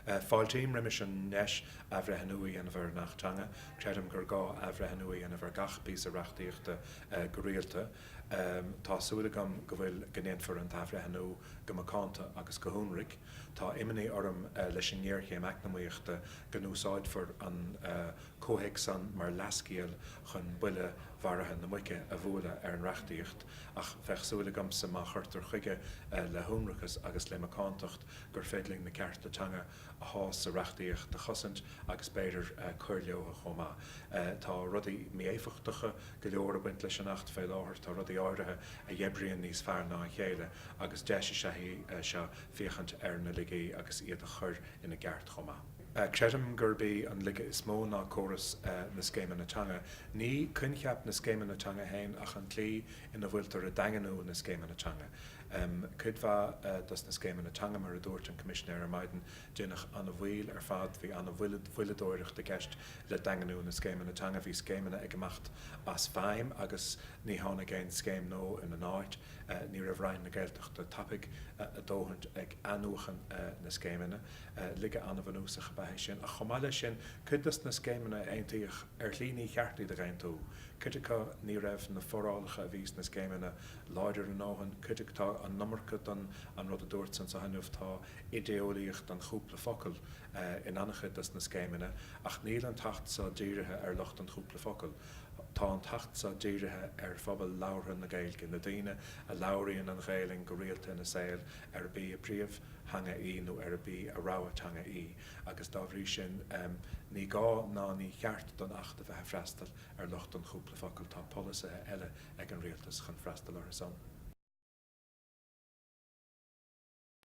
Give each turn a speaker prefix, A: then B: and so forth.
A: Fáiltím roimis an ndeis athbhreithniú a dhéanamh ar an Acht Teanga. Creidim gur gá athbhreithniú a dhéanamh ar gach píosa reachtaíochta go rialta. Tá súil agam go ndéanfar an t-athbhreithniú go macánta agus go hionraic. Tá imní orm leis an ngéarchéim eacnamaíochta go n-úsáidfear an comhthéacs san mar leathscéal chun buille mharaithe na muice a bhualadh ar an reachtaíocht. Ach bheadh súil agamsa má chuirtear chuige le hionracas agus le macántacht gur féidir linn na cearta teanga atá sa reachtaíocht a chosaint agus b'fhéidir cur leotha chomh maith. Tá rudaí mí-éifeachtacha go leor ag baint leis an Acht fé láthair. Tá rudaí áirithe a dh'oibríonn níos fearr ná a chéile agus deis is ea í seo féachaint ar na laigí agus iad a chur ina gceart chomh maith. Creidim gurb í an laige is mó ná córas na scéimeanna teanga. Ní coincheap na scéimeanna teanga féin ach an tslí ina bhfuiltear ag daingniú na scéimeanna teanga. Cuid mhaith dos na scéimeanna teanga, mar a dúirt an Coimisinéir ar maidin, déanadh ana mhoill ar fad. Bhí ana mhoilleadóireacht i gceist le daingniú na scéimeanna teanga. Bhí scéimeanna ag imeacht as feidhm agus ní tháinig aon scéim nua ina n-áit. Ní raibh Roinn na Gaeltachta tapaidh a dóthaint ag athnuachan na scéimeanna. Laige an-bhunúsach ab ea é sin, ach chomh maith leis sin, cuid des na scéimeanna a aontaíodh, ar shlí níor cheart iad a aontú. Cuid acu, ní raibh na forálacha a bhí sna scéimeanna láidir a ndóthain, cuid acu, tá an iomarca den an rud a dúirt san sa haineamh, tá idéolaíocht an chúpla focal in an-chuid des na scéimeanna, ach níl an tAcht so dírithe ar lucht an chúpla focal. Tá an tAcht so dírithe ar phobal labhartha na Gaeilge, na daoine a labhraíonn an Ghaelainn go rialta ina saol arb í a theanga í nó arb í a rogha teanga í agus dá bhrí sin ní gá ná níor cheart don Acht a bheith ag freastal ar lucht an chúpla focal. Tá polasaithe eile ag an Rialtas chun freastal orthu san.